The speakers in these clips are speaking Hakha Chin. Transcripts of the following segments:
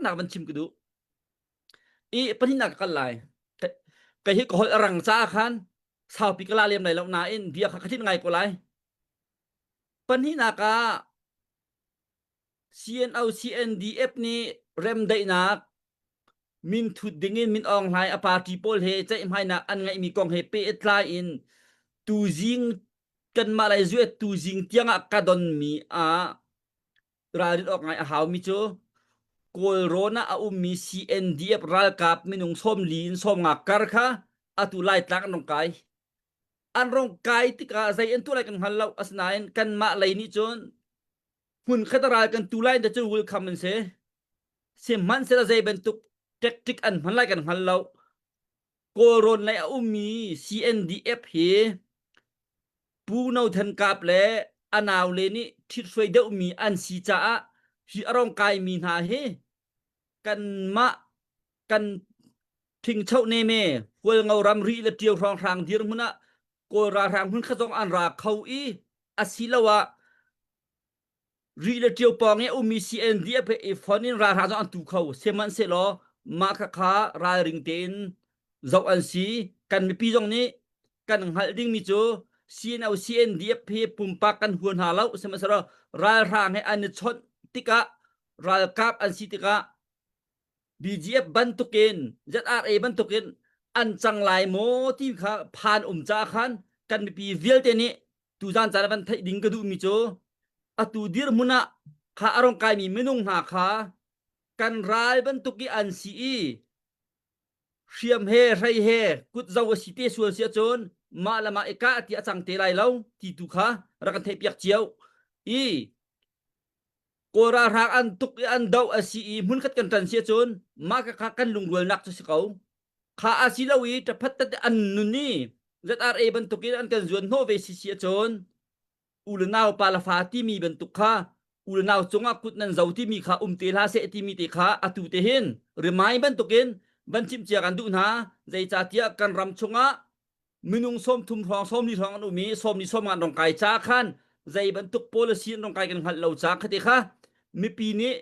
taknak van chim ka duh i pahnihnak ka kal lai ka hi ka holh rang caah khan saupi ka la lem lai lo nain bia kha khatin ngai ko lai pahnihnak ah CNO CNDF nih remdaihnak min thut dingin min ong hlai a party pawl he ceihmainak an ngaihmi kong he pe tlai in tu jing kanmah lai zuet tu jing tiangah ka donmi ah ralrin awk ngai a haumi cu Kawlrawn ah a ummi CNDF ralkap minung sawmli in sawmnga kar kha atu laitlak an rung kai an rung kai tikah zei an tu lai kan hngal lo asinain kanmah lei nih cun hmun khat ral kan tu lai cu welcome an si sihmanhsehlaw zei bantuk tactic an hman lai kan hngal lo Kawlrawn lei a ummi CNDF hi Pu No Than Kap le a naule nih ṭhithruai deuhmi an si caah hi a rong kaimi hna hi kanmah kan ṭhingcho neme hualngo ramri le ṭio hrawnghrang dirhmun ah Kawl ralhrang hmun khat zong an ra kho i asiloah ri le ṭio pang i a ummi CND a phe i fon in ralhra zong an tu kho sehmanhsehlaw mah kha kha ralring tein zoh an si kan mipi zong nih kan hngalh dingmi cu CNO CNDF he pumpak kan huan hna lo sihmanhsehlaw ralhra he an i chawnh tikah ralkap an si tikah BGF bantukin ZRA bantukin an cang lai maw ti kha phan um ca khan kan mipi vialte nih tuzan caan van theih ding ka duhmi cu atu dirhmun ah kha a rong kaimi minung hna kha kan ral bantuk i an si i hriam he hrei he kut zo a si te sual si ahcun mah le mah i kah ti a cang te lai lo ti tu kha rak kan theihpiak cio i Kawl ralhrang an tuk i an doh a si i hmunkhat kan tan si cun mah ka kha kan lungrualnak cu si ko. Kha a si lo i taphat tate an nun i ZRA bantukin an kan zuan hnawh ve si si cun u le nau pa le fa timi bantuk kha u le nau cungah kut nan zo timi kha um te hla seh timi te kha atu te hin remind bantukin van chimcia kan duh hna zeicahtiah kan ram chungah minung som thum hrawng som li hrawng an um i som li som an rong kai cha khan zei bantuk policy an rong kai kan hngalh lo cha khati kha mipi nih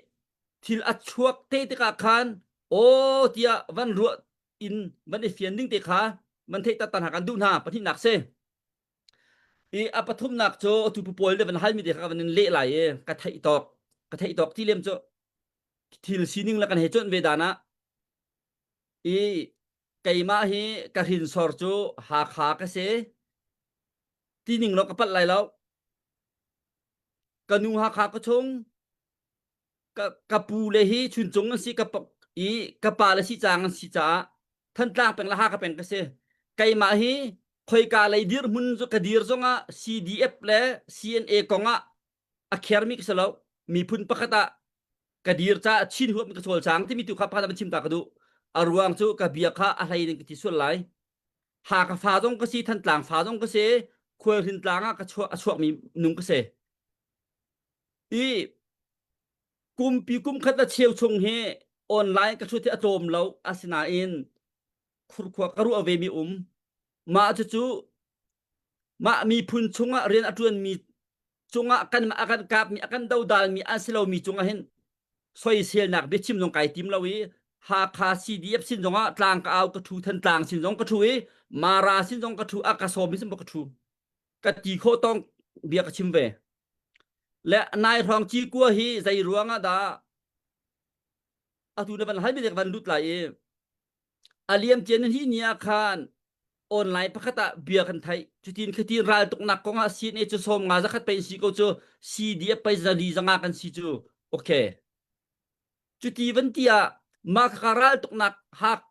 thil a chuak te tikah khan aw tiah van ruah in van i fian ding te kha van theih tatan ha kan duh hna pahnih nak se i a pathum nak cu tu pawl le van hal mi te kha van in leh lai e ka theih tawk ka theih tawk ti lem cu thil sining la kan he chon ve dana i keimah hi ka hinsor cu Hakha ka si ti ning lo ka palh lai lo ka nu Hakha ka chung ka, ka pu le hi chuncung an si ka i ka pa le si cang an si caah thantlang peng le Hakha peng ka si keimah hi khoika lei dirhmun cu ka dir zongah CDF le CNA kongah a khermi ka si lo miphun pakhat ah ka dir ca a chin huam ka sual sang timi tu kha pa van chim ta ka duh a ruang cu ka bia kha a hlei ning ka ti sual lai ha ka fa zong ka si thantlang fa zong ka si khual hrin tlang ah ka chuak a chuakmi nung ka si i kumpi kum khat a cheu chung hi online ka thut hi a tlawm lo asinain khurkhua ka ruah ve mi um mah cu cu Mah miphun chungah rian a ṭuanmi cungah kan a kan kapmi a kan dodalmi an si lomi cungah hin soiselnak biachim zong kai tim lo i Hakha CDF sin zongah tlang ka au ka ṭhu than tlang sin zong ka ṭhu i Mara sin zong ka ṭhu a ka sawm sin ka ṭhu ka ti khawh tong bia ka chim ve le nai hrawng ci kua hi zei ruang ah dah atu na van hal mi van lut lai i a liam tian hi ni ah khan online pakhat ah bia kan thai cutin khatin ral tuknak kong ah CNA cu som nga zakhat pei si ko cu CD a pei zali zanga kan si cu okay cuti van ti ah ma kha ral tuknak hak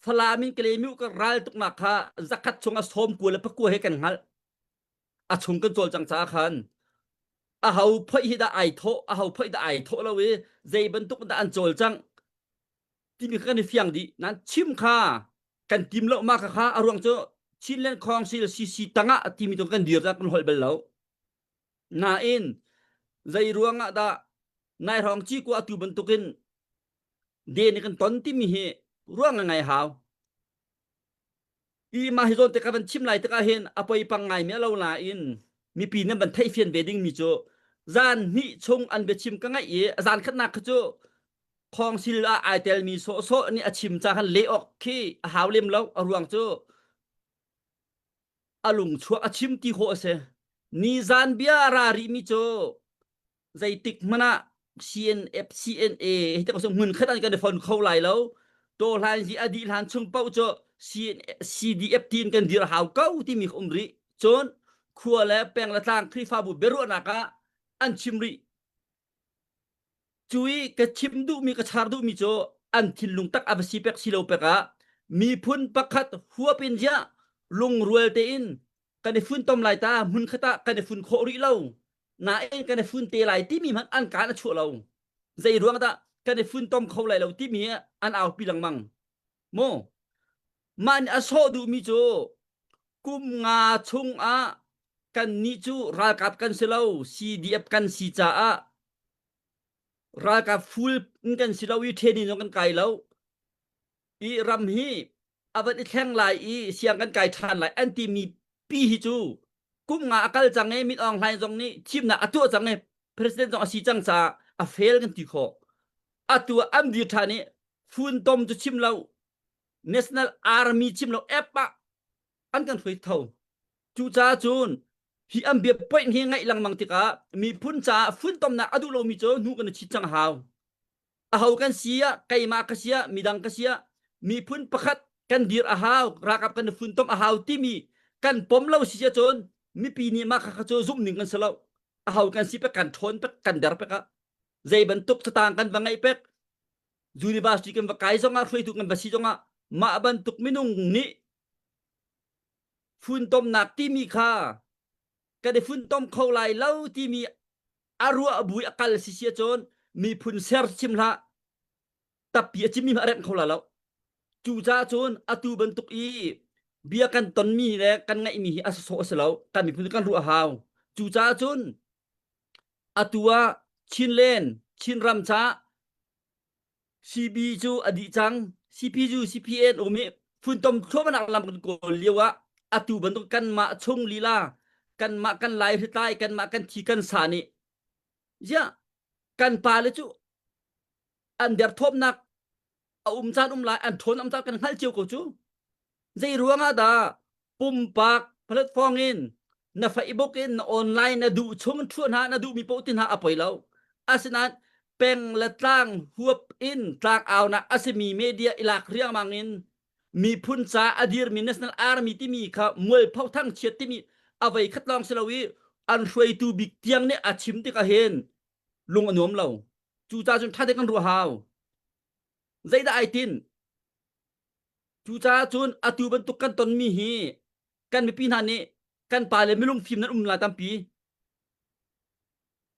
fala min kle mi ka ral tuknak kha zakhat chung a som ku le pakua he kan ngal a chung kan chol chang cha khan a hau phoi hi da ai tho a hau phoi da ai tho lo i zei bantuk da an chol chang timi kha kan i fiang dih nan chim kha kan tim lo ma kha kha a ruang cu Chinland Council CC tangah a timi tu kan dir ta kan holh bal lo nain zei ruangah dah nai rong chi ku atu bantukin den kan ton timi hi ruang ngai hau i mah hi zawn tikah van thim lai tikah hin a poi pang ngai mi lo nain mipi nan van theih fian ve ding mi cu zan hnih chung an biachim ka ngaih i zan khatnak kha cu khawngsil ah ai tel mi sawh sawh nih a chim ca khan le awk khi a hau lem lo a ruang cu a lungchuah a chim ti khawh a si ni zan bia ra rih mi cu zeitik hmanh ah CNF CNA hi tak ngun khat an kan fon kho lai lo to hlan hi adi hlan chung pauh cu CDF tiin kan dir hau ko timi um ri cun khua le peng le tlang khrifabu beruahnak ah an chim ri cui ka chim duhmi ka char duhmi cu an thinlung tak avasi pek silo pek ah miphun pakhat huapin ja lungrual tein kan i fun tom lai ta mun khata kan i fun kho ri lo nain kan i fun te lai timi hmanh an kan a chuah lo zei ruang dah kan i fun tom kho lai lo timi an aupi lengmang mu mah nih a sawh duhmi cu kum nga chung ah kan ni cu ralkap kan si lo CDF kan si caah ralkap full in kan si lo i training zong kan kai lo i ram hi a van i thleng lai i siang kan kai ṭhan lai an timi pi hi cu kum nga a kal cang i Mit Aung Hlaing zong nih thimnak a tuah cang i president zong a si cang caah a fail kan ti khawh atu an dir ṭhan i funtom cu chim lo national army chim lo app ah an kan hruai tho cucaah cun hi an bia poin hi ngaih lengmang tikah miphun caah funtomnak a duh lomi cu hnu kan i chit cang hau aho kan si ah keimah ka sia midang ka sia miphun pakhat kan dir a hau rakap kan funtom a hau timi kan pom lo si cun mipi nih mah kha cu zumh ning kan si lo a hau kan si pe kan ṭhawn pe kan der pe ka zei bantuk satang kan va ngai pek university kan va kai zong ah hruaitu kan va si zong ah mah bantuk minung nih funtomnak timi kha kan i funtom kho lai lo timi a ruah bu a kal si si cun miphun ser sim hlah tapi a cimmi a rengh kho la lo cu ca cun atu bantuk i bia kan tonmi le kan ngaihmi hi a sosok a si lo kan miphun kan ruah hau cu ca cun atu ah chinlen chin ram ca CP cu a dih cang. CPU CPN um i funtom thluahmahnak lam kan kawl lio ah atu bantuk kanmah chung lila kanmah kan lai hritlai kanmah kan thi kan sa nih ziah kan pale cu an derthawmnak a um caan um lai an thawn am caan kan hngalh cio ko cu Zeiruang ah dah pumpak platform in na Facebook in na online na duh chung thua hna na duhmi paoh ti hna a poi lo. Asinain peng le tlang huap in tlangaunak a simi media i lak riangmang in miphun ca a dirmi National Army timi kha mual phothang chiat timi avei khat lawng si lo i an hruaitu bik tiang nih a chim tik ahhin lung a nuam lo. Cu ca cun ṭha dek an ruah hau. Zeidah ai tin? Cucaah cun atu bantuk kan tonmi hi kan mipi hna nih kan pa le milung fim nan um lai tampi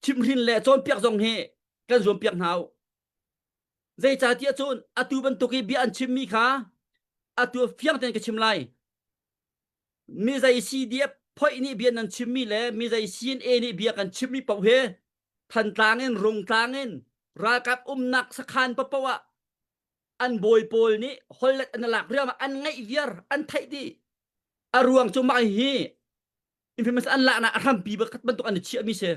chimhrin le cawnpiak zong hi kan zuam piak hna u zeicahtiah cun atu bantuk i bia an chimmi kha atu fiang tein ka chim lai mi zei si dia phoih nih bia nan chimmi le mi zei sin e nih bia kan chimmi paoh hi thantlang in rungtlang in ralkap umnak sakhan papo ah an bawi pawl nih hollet an lak riam an ngaih viar an theih dih a ruang cu mah hi infamous an laknak a hrampi bakhat bantuk an i chiah mi si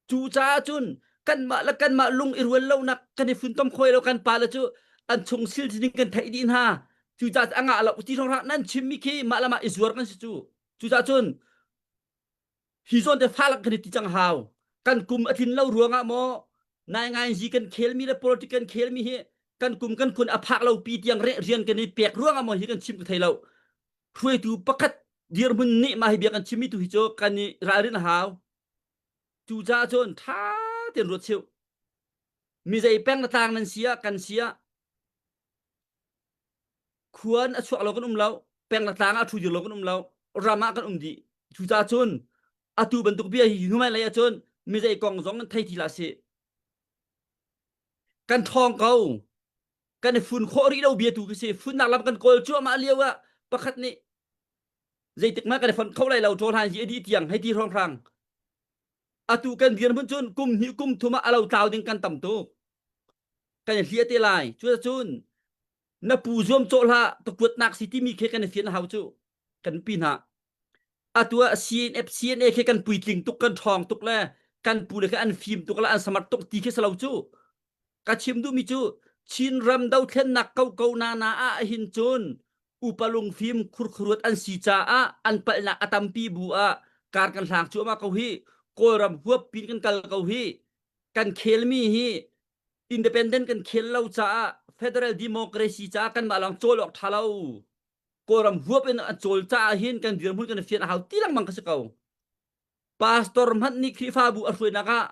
cu caah cun kanmah le kanmah lung i rual lonak kan i funtom khoi lo kan pa le cu an chung sil sining kan theih dih hna cu ca a ngah lo ti rong nan chim mi khi mah le mah i zuar kan si cu cu ca cun hi zawn te falak kan ti cang hau kan kum a tlin lo ruangah maw nai ngai ji kan khel mi le politic kan khel mi hi kan kum kan kun a phak lo pi tiang re rian kan i pek ruangah maw hi kan chim ka thei lo hruaitu pakhat dirmun ni ma hi bia kan chim mi tu hi chu kan i ralrin hau tu ja chun tha ten ruat cheu mi zei peng na tang nan sia kan sia khuan a chuak lo kan um lo peng le tlang ah thu dir lo kan um lo ram ah kan um dih cuca cun atu bantuk bia hi hnu mai lei ahcun mi zei kong zong kan thei ti la si kan thawng ko kan i fun khawh rih lo bia tu ka si funnak lam kan kawl cuahmah lio ah pakhat nih zeitik mah kan i fon kho lai lo ṭawlhan hi a dih tiang hei ti hrawng hrang atu kan dirhmun cun kum hnih kum thum ah a lo tlau ding kan tam tuk kan i hliah te lai cu cun na pu zuam cawh hla ka kuatnak si timi khe kan i fian hau cu kan pi hna atu ah CNF CNA khe kan puitling tuk kan ṭhawng tuk le kan pu le khe an fim tuk le an samar tuk ti khi salo cu ka chim duhmi cu Chin ram dothlennak koko na na ah hin cun upa lungfim khurkhuruat an si caah an palhnak a tampi bu ah kar kan hlang cu ama ko hi kawlram huap pin kan kal ko hi kan khelmi hi independent kan khel lo caah federal democracy caah kan mah lawng cawl awk tha lo kawlram huap in a cawl caah hin kan dirhmun kan fian a hau ti lengmang ka si ko pastor hmanh nih Khrihfabu a hruainak ah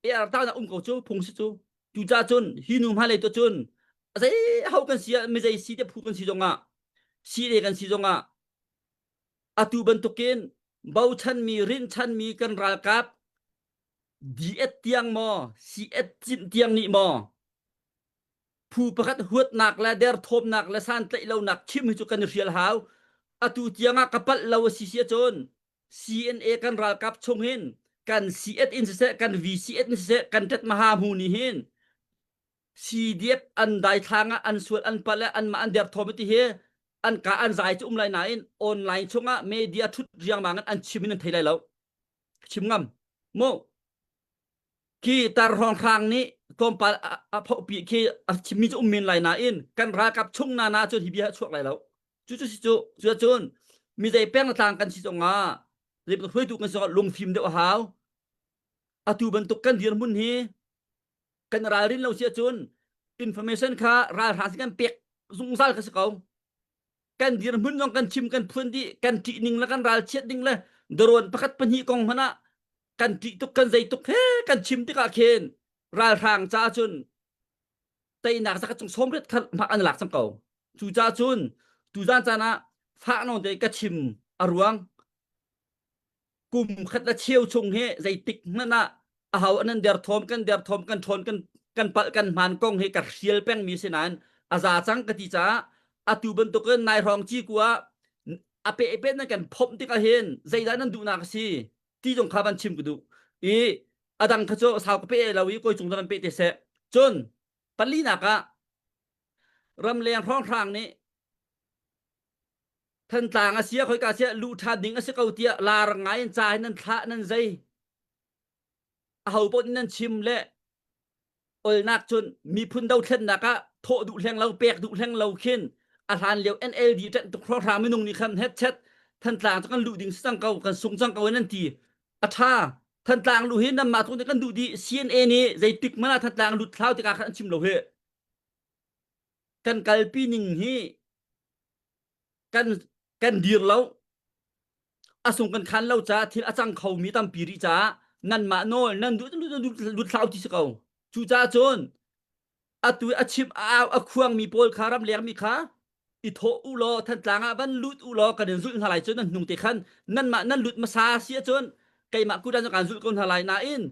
ertaunak um ko cu phung si cu cu ca cun hi nu hma lei to cun zei ho kan si ah mizei si te phu kan si zongah si le kan si zongah atu bantukin bochanmi rinchanmi kan ralkap diet tiang maw si et cin tiang nih maw phu pakhat huatnak le derthawmnak le santlaih lonak chim hi cu kan i hrial hau atu tiang ah ka palh lo a si sia cun CNA kan ralkap chung hin kan CF in siseh kan VCF in siseh kan tet maha mu ni hin CDF an dai thlang ah an sual an pal an ma an derthawm ti hi an ka an zai cu um lai nain online chung ah media thut riangmang an chim in an thei lai lo chim ngam mo Khi tar hrawng hrang nih tlawmpal a phohpi khi a chimmi cu um men lai nain kan ralkap chung nana cun hi bia chuak lai lo. Cu cu si cu cu cun mi zei pengtlang kan si zongah zeibantuk hruaitu kan si zongah lungfim deuh a hau. Atu bantuk kan dirhmun hi kan ralrin lo si ahcun information kha ralhrang si kan pek zungzal ka si ko. kan dirhmun zong kan chim kan phuan dih kan ṭih ning le kan ral chiat ning le daruan pakhat pahnih kong hmanh ah kan ṭih tuk kan zei tuk he kan chim tikah khin ralhrang ca cun teinak zakhat cung sawmriat khat hmak an lak cang ko cu ca cun tuzan caan ah fah no te ka chim a ruang kum khat a cheu chung hi zeitik hmanh ah a hau anan der thawm kan der thawm kan ṭhawn kan kan palh kan hman kong hi ka hrial peng mi si nain a za cang ka ti caah atu bantukin nai hrawng ci ku ah a pe pe nan kan phomh tikah hin zeidah nan duhnak a si ti zong kha van chim ku duh i adang kha cu sau ka pe lo i koi cung nan pe te se cun palinak ah ramleng hrawnghrang nih Thantlang a sia khoika sia lu ṭha ding a si ko tiah laarang ngai in ca hi nan thlah nan zei a ho paoh nih nan chim le olnak cun miphun dothlennak ah thawh duh hleng lo pek duh hleng lo khin a hlan lio NLD ṭanh tuk hrohra minung nih khan het chet Thantlang cu kan luh ding si cang ko kan sung cang ko nan ti a ṭha Thantlang lu hi nanmah tu nih kan duh dih CNA nih zeitik man ah Thantlang lut thlau tikah khan an chim lo hi kan kalpi ning hi kan kan dir lo a sung kan khan lo caah thil a cang kho mi tampi rih caah nan mah nawl nan duh lut hlau ti si ko cu caah cun atu a chim a khuang mi pawl kha ram leng mi kha i thawh u law thantlang ah van lut u law kan in zulh hna lai cun nan hnung te khan nan mah nan lut hmasa si cun keimah kut an kaan zulh ko hna lai nain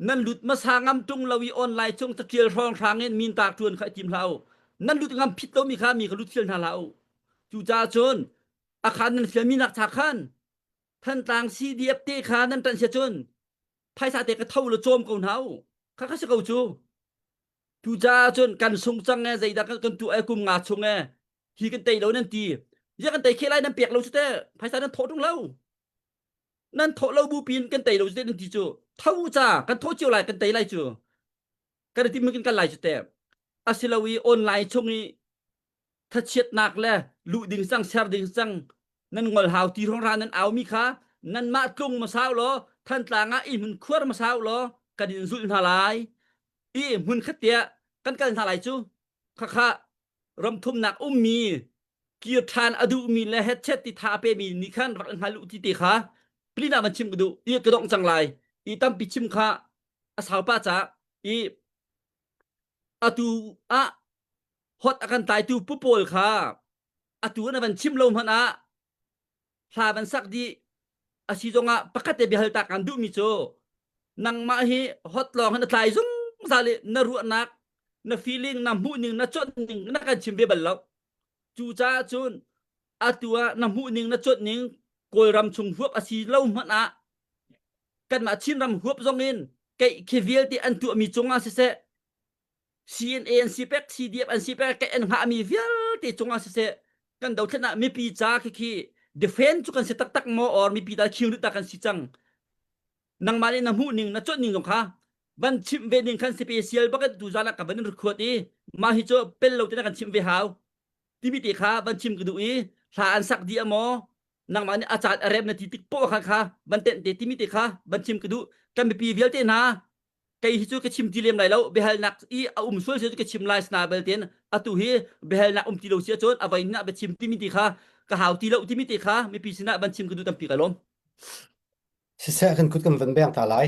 nan lut hmasa ngam tung lo i online cung catial hrang hrang in min tak tuan kha tim hlah u nan lut ngam phit lomi kha mi ka lut thil hna hlah u cu ca cun a khan nan siami nak cha khan thantlang CDF te kha nan tan sia cun phaisa te ka tho la chom ko hna u kha ka si ko cu tu ca cun kan sung cang e zeidak kan tu e kum nga chung e hi kan tei lo nan ti ya kan tei khelai nan pek lo chu te phaisa nan thawh tung lo nan thawh lo bu pin kan tei lo te ti cu tho ca kan thawh cio lai kan tei lai cu kan i timkin kan lai cu te asilo i online chung i thachiatnak le lu ding cang ser ding cang nan ngol hau ti rong ra nan au mi kha nan mah tlung ma sau lo thantlang ah i hmun khuar ma sau lo kan in zulh hna lai i hmun khatia kan kal hna lai cu khakha ramthumnak ummi kir ṭhan a duhmi le headset ti tha a pemi nih khan rak hngal u ti te kha plin ah van chim ka duh i ka dongh cang lai i tampi chim kha a saupa ca i atu ah hot a kan tlaitu pu pawl kha atu na van chim lo hmanh ah hla van sak dih a si zongah pakhat te biahal ta kan duhmi cu nangmah hi hot lawng hin a tlai zungzal i na ruahnak na feeling na hmuhning na ning na kan chim ve bal lo cu caah cun atu ah na hmuhning na ning kawlram chung huap a si lo hmanh ah kanmah chinram huap zong in keih khi vialte an tuahmi cungah siseh CNA an si pek, CDF an si pek, kan an hngahmi vialte cungah siseh, kan dothlen ah mipi ca khi khi defend cu kan si taktak maw or mipi dal khiung rit kan si cang. Nangmah nih na hmuh ning, na chawnh ning zong kha van chimh ve ning khan special bakin tu zan ka van in record i mah hi cu pel lo te kan chimh ve hau. Timi te kha van chim ka duh i hla an sak di amaw nangmah nih acan arem na ti tik po kha kha van ten te timi te kha van chim ka duh kan mipi vialte hna kei hi cu ka chim ti lem lai lo biahalnak i a um sual si ka chim lai sna belten atu hi biahalnak um ti lo si cun a vai hna bia chim timi ti kha ka hau ti lo timi ti kha mipi sinah ban chim ka du tampi ka lawm siseh kan kut kan van beng ta lai